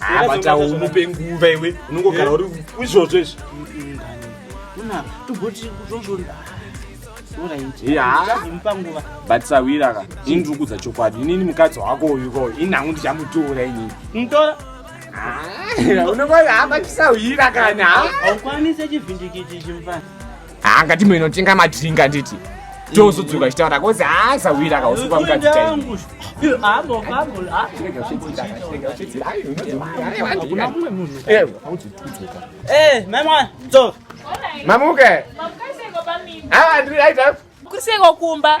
abatawo umupe nguva iwe unongogara uri izvozvo izvi but sawira ka ini ndiri kudza chokwadi inini mukadzi wako uyu ko ini hangu ndichamutora inini mutora unongohamba chisahwira kana haukwanise chivhindikiti chimufana haa ngati mwe inotenga madrink anditi tozodzoka chitaura kozi haa zawira akausupa mukadzi chaiko mamuke haa ndiri aita kuseko kumba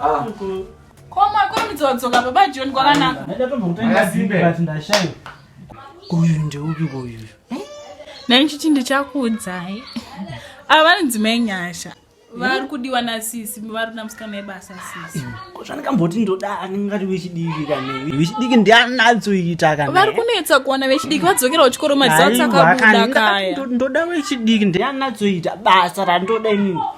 Ah. Ko makurumidza wadzoka baba John kwakanaka. Ndaida tombokutenga zimbe but ndashaiwa. Uyu ndeupi uyu? Eh? Nani chiti ndichakuudzai. Ava vanonzi mai Nyasha. vari kudiwa nasisi vari kuda musikana yebasa sisi kozvandikamboti ndoda aningati vechidiki kane vechidiki ndianatsoita kana vari kunetsa kuona vechidiki vadzokera kuchikoro madzatsa kabuda kaya ndoda vechidiki ndianatsoita basa randoda inini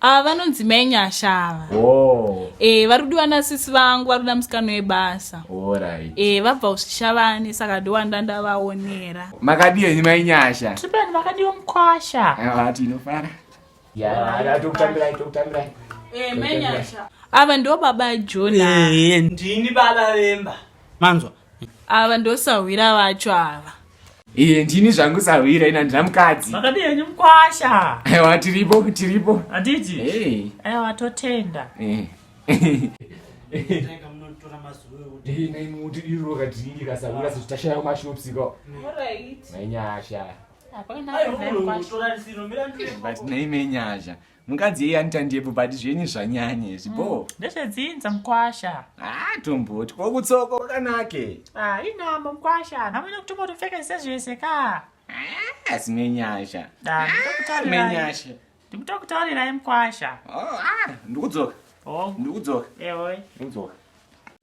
ava ah, vanonzi mai nyasha ava oh. e, vari kudiwa nasisi vangu vari kuda musikano webasa right. e, eh, vabva usvishavani saka ndiwanda ndavaonera makadiwa ini mai nyasha tipani makadiwa mukwasha ah, tinofara ava ndo baba jona ndini baba vemba manzwa ava ndosahwira vacho ava iye ndini zvangu sahwira ina ndina mukadzi makadi yenyu mkwasha aiwa tiripo tiripo hatiti aiwa totenda eh. naimenyasha mukadzi yeye anita ndebvu but zvenyu zvanyanya izvi bo mm. ndezvedzinza mukwasha haa ah, tomboti ko kutsoko kwakanake ah, inambo mukwasha namwene kutombotopfeka sezvese ka ah, asi menyasha menyasha ndikutokutaurirai mukwasha oh, ndikudzoka oh. ndikudzoka eoi ndikudzoka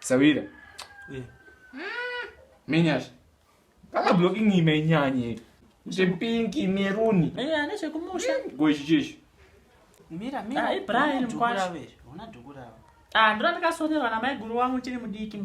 Sawira. Eh. Menyasha. Kana blocking imenyanye. Zve pink meruni. Eh, ane zvekumusha. Go ichi chichi. Mira mira. Ah, Brian mkwasha. Una dukura. Ah, ndira ndakasonerwa na mai guru wangu chiri mudiki.